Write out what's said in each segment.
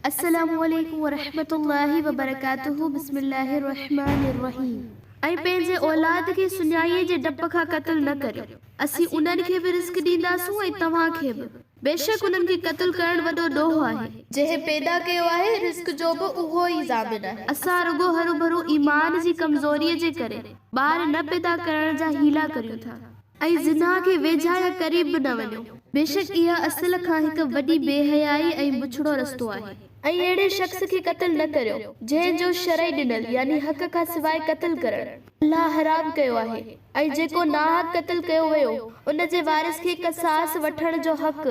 السلام عليڪم ورحمة الله وبرڪاته بسم الله الرحمٰن الرحيم ۽ پنهنجي اولاد کي سڃائيء جي ڊپ کان قتل نه ڪريو اسين انهن کي به رزق ڏينداسون ۽ توهان کي به بيشڪ انهن کي قتل ڪرڻ وڏو ڏوهه آهي. جنهن پيدا ڪيو آهي رزق جو به اهو ئي ضامن آهي. اسان رڳو هروڀرو ايمان جي ڪمزوريء جي ڪري ٻار نه پيدا ڪرڻ جا حيلا ڪريون ٿا. ۽ زنا کي ويجها يا قريب به نه وڃو. بيشڪ اها اصل کان هڪ وڏي بي حيائي ۽ بڇڙو رستو آهي. ۽ اهڙي شخص کي قتل نه ڪريو، جنهن جو شرعي ڏنل، يعني حق کان سواء قتل ڪرڻ، الله حرام ڪيو آهي، ۽ جيڪو ناحق قتل ڪيو ويو، ان جي وارث کي قصاص وٺڻ جو حق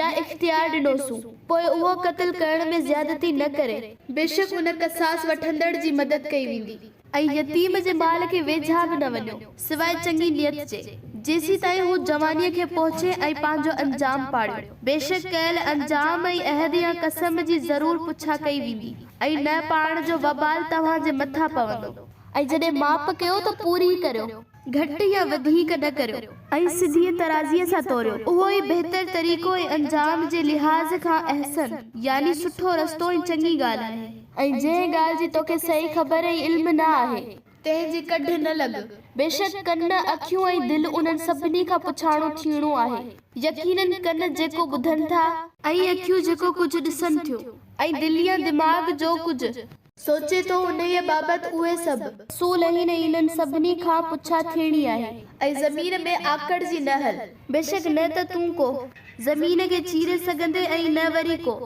يا اختيار ڏنوسون، پوء اهو قتل ڪرڻ ۾ زيادتي نه ڪري. بيشڪ ان قصاص وٺندڙ جي مدد ڪئي ويندي. ۽ يتيم جي ٻال کي ويجها به نه وڃو، سواء چڱي نيت جي، جيسيتائين هو جوانيء کي پهچي ۽ پنهنجو انجام پاڙيو. بيشڪ ڪيل انجام ۽ عهد يا قسم جي ضرور پڇا ڪئي ويندي، ۽ نه پاڻ جو وبال توهان جي مٿان پوندو. ۽ جڏهن ماپ ڪيو ته پوري ئي ڪريو. گهٽ يا وڌيڪ نه ڪريو ۽ سڌيء ترازيء سان توريو، اهو ئي بهتر طريقو ۽ انجام جي لحاظ کان احسن يعني سٺو رستو ۽ چڱي ڳالهه آهي. ۽ جنهن ڳالهه جي توکي صحيح خبر ۽ علم نه آهي. تنهن جي ڪڍ نه لڳ. بيشڪ ڪن، اکيون ۽ دل انهن سڀني کان پڇاڻو ٿيڻو آهي. يقيناً ڪن جيڪو ٻڌن ٿا. ۽ اکيون جيڪو ڪجهه ڏسن ٿيون. ۽ دل يا دماغ جو ڪجهه. سوچي ٿو انهيء بابت اهي سڀ. اصول آهن ۽ انهن سڀني کان پڇا ٿيڻي آهي. ۽ زمين ۾ آڪڙ جي نه هل. بيشڪ نه ته تون ڪو. زمين کي چيري سگهندين ۽ نه وري ڪو.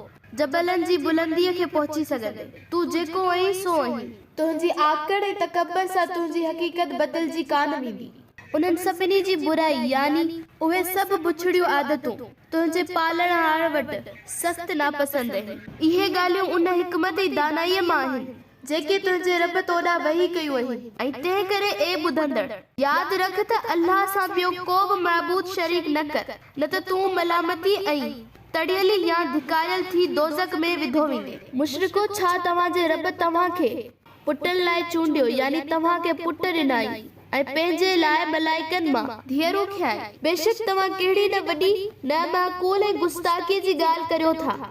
جبلن جي بلنديء کي پهچي سگهندين. تون جيڪو آهين سو آهين. تنهنجي آڪڙ ۽ تڪبر سان تنهنجي حقيقت بدلجي ڪانه ويندي. انهن سڀني جي برائي، يعني. اهي سڀ بڇڙيون عادتون. تنهنجي پالڻهار وٽ سخت ناپسند اهي. اهي ڳالهيون ان حڪمت ۽ دانائيء مان آهن، جيڪي تنهنجي رب تو ڏانهن وحي ڪيون اهي ۽ تنهن ڪري اي ٻڌندڙ! ياد رک ته الله سان ٻيو ڪو به معبود شريڪ نه ڪر، نه ته تون ملامتيء ۽ تڙيلي يا ڌڪاريل ٿي دوزخ ۾ وڌو ويندين. مشرڪو! ڇا توهان جي رب توهان کي پٽن لاء چونڊيو، يعني توهان کي پٽ ڏنائين، ۽ پنهنجي لاء ملائڪن مان. ڌيئرون کنيائين. بيشڪ توهان ڪهڙي نه وڏي، نه معقول ۽ گستاخيء جي ڳالهه ڪريو ٿا.